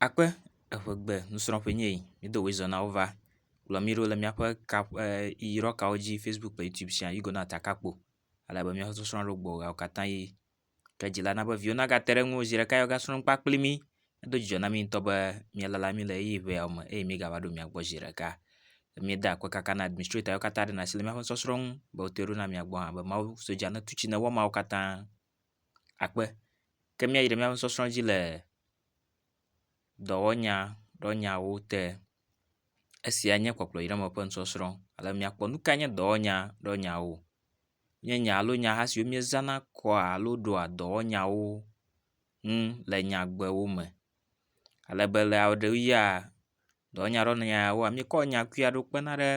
Akpe eve gbe nusrɔ̃ƒe nye yi. Mído wòye zɔ na wo va. Kplɔ mí ɖo le míaƒe kap e yɔyɔ kawo dzi fasibuku kple youtube sia you go na takakpo ale be míaƒe sɔsrɔ̃ ɖo gbɔ ɣeawo katã ʋi. Ke dzila na be viwo nagate ɖe eŋu o zi ɖeka ye wogasrɔ̃ nu kpa kpli mí. Edo dzidzɔ na mí ŋutɔ be míalala mí le ʋeyiʋi ŋe yawo me eye mígava ɖo mia gbɔ zi ɖeka. Míeda akpe kaka na administrator yiwo katã ɖena asi le míaƒe sɔsrɔ̃ ŋu be wote ɖo na mia gbɔ hã be Mawu sodza netu tsi ne wɔ emawo katã. akpe. Ke míayi ɖe míaƒe sɔsrɔ̃ dzi le dɔwɔnya ɖe nyawo te. Esia nye kpɔkplɔ yi ɖe eme ƒe nusɔsrɔ̃ ale be míakpɔ nu kae nye dɔwɔnya ɖe nyawo. Nye nya alo nyaha siwo míezãna kɔa alo ɖoa dɔwɔnyawo ŋu le nyagbewo me. Ale be le ɣeyiɣia dɔwɔnya ɖe nyawoa míkɔ nyakui aɖewo kpena ɖe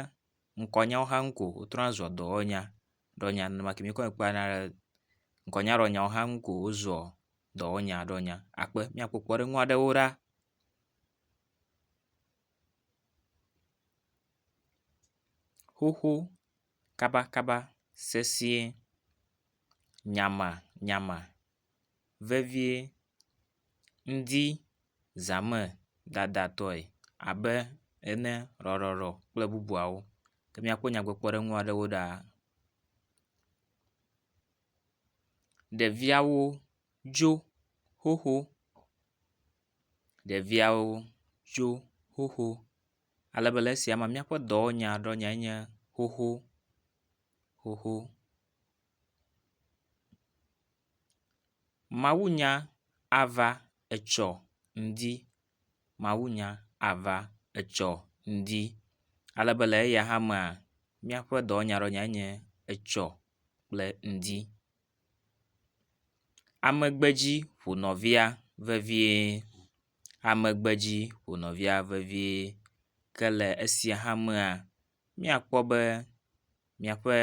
ŋkɔnyawo hã ŋu ko wotrɔna zua dɔwɔnya. ɖɔ nya nene ma ke míkɔ kpɔa na ɖe ŋkɔnyaɖɔnyawo hã ŋu ko wozua dɔwɔnya ɖɔ nya akpe míakpɔ kpɔɖeŋu aɖewo ɖa. Xoxo kabakaba sesiẽ nyama nyama. vevie ŋdi zã me dadatɔe abe ene, ɖɔɖɔɖɔ kple bubuawo. Ke míakpɔ nyadzɔdzɔɖeŋu aɖewo ɖa. Ɖeviawo dzo xoxo, ɖeviawo dzo xoxo ale be le esia mea míaƒe dɔwɔnya ɖe enye xoxo xoxo. Mawunya ava etsɔ ŋdi, mawunya ava etsɔ ŋdi. Ale be le eya hã mea, míaƒe dɔwɔnyaɖɔnyae nye etsɔ kple ŋdi. Ame gbe dzi ƒo nɔvia vevie, ame gbe dzi ƒo nɔvia vevie ke le esia hã mea. míakpɔ be miaƒe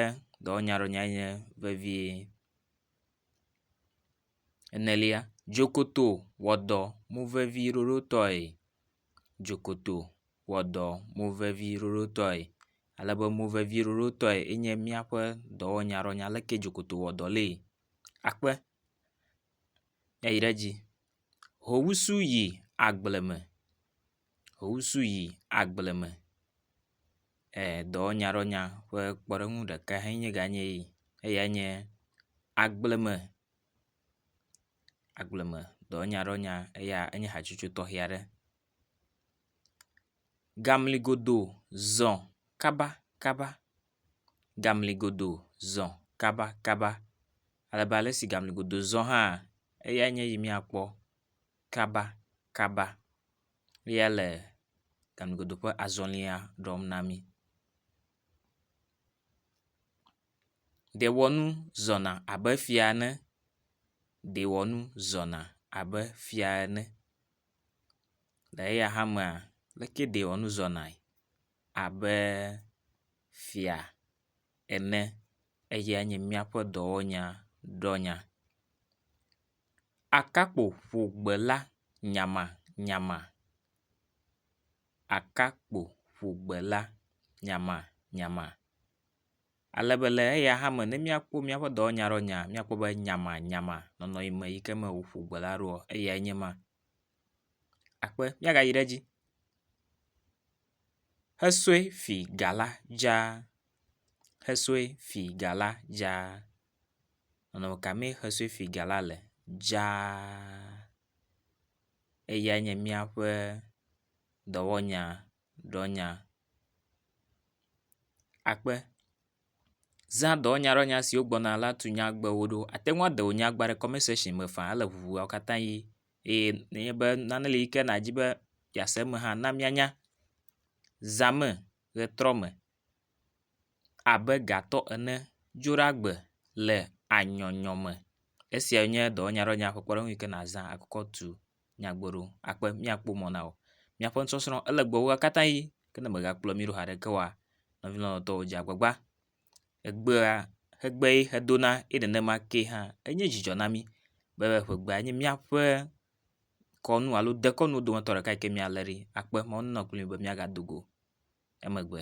dɔwɔnyaɖɔnya enye vevie. Enelia, dzokoto wɔ dɔ mo vevi ɖoɖotɔe. Dzokoto wɔ dɔ mo vevi ɖoɖotɔe ale be mo vevi ɖoɖotɔe enye míaƒe dɔwɔnyaɖɔnya leke dzokoto wɔ dɔ lee. Akpe ayi ɖe edzi. Ho ŋusu yi agble me. Wosu yi agble me e dɔwɔnyadɔwɔnya ƒe kpɔɖeŋu ɖeka enye ganye yi eyae nye agbleme agbleme dɔwɔnyadɔwɔnya eya enye hatsotso tɔxɛ aɖe. Gamli godo zɔ kabakaba gamli godo zɔ kabakaba ale be ale si gamli godo zɔ hã eyae nye yi miakpɔ. kaba kaba ya le ganugodo ƒe azɔlia ɖɔm na mi. Ɖewɔnu zɔna abe fia ene, ɖewɔnu zɔna abe fia ene. Le eya hã mea leke ɖewɔnu zɔna abe fia ene eyae nye míaƒe dɔwɔnya ɖɔnya. Akakpo ƒo gbe la nyamanyama. Akakpo ƒo gbe la nyamanyama. Ale be le eya hã me ne míakpɔ míaƒe dɔwɔnya ɖe nyea míakpɔ be nyamanyama nɔnɔ yi me yi ke me woƒo gbe la ɖoa eyae nye ma. Akpe míagayi ɖe edzi. Esue fi ga la dzaa. Esue fi ga la dzaa. Nɔnɔme ka mee xesoefiga la le dzaa? Eyae nye míaƒe dɔwɔnya ɖɔnya. Akpe, zã dɔwɔnya ɖɔnya siwo gbɔna la tu nyagbewo ɖo. Àte ŋu ade wò nyagba ɖe kɔment section me faa ele ŋuŋu woawo katã ʋi eye nenye be nane li yi ke nàdi be yease eme hã na míanya. Zã eme. ʋetrɔ me abe gatɔ ene, dzoɖagbe le anyɔnyɔ me. Esia nye dɔwɔnyadɔwɔnya ƒe kpɔɖeŋu yi ke nàzã akɔ tu nyagbe ɖo akpe míakpɔ mɔ na wò. Míaƒe nusɔsrɔ̃ ele gbɔwò katã ʋi ke ne mègakplɔ mí ɖo o haɖeke oa, nɔvi lɔlɔ̃tɔwo dze agbagba. Egbea egbee hedona eye nenema kee hã enye dzidzɔ na mí be ƒegbea nye míaƒe kɔnu alo dekɔnuwo dometɔ ɖeka yi ke míalé ɖi akpe mɔ nenɔ kpli mi be míagado go emegbe.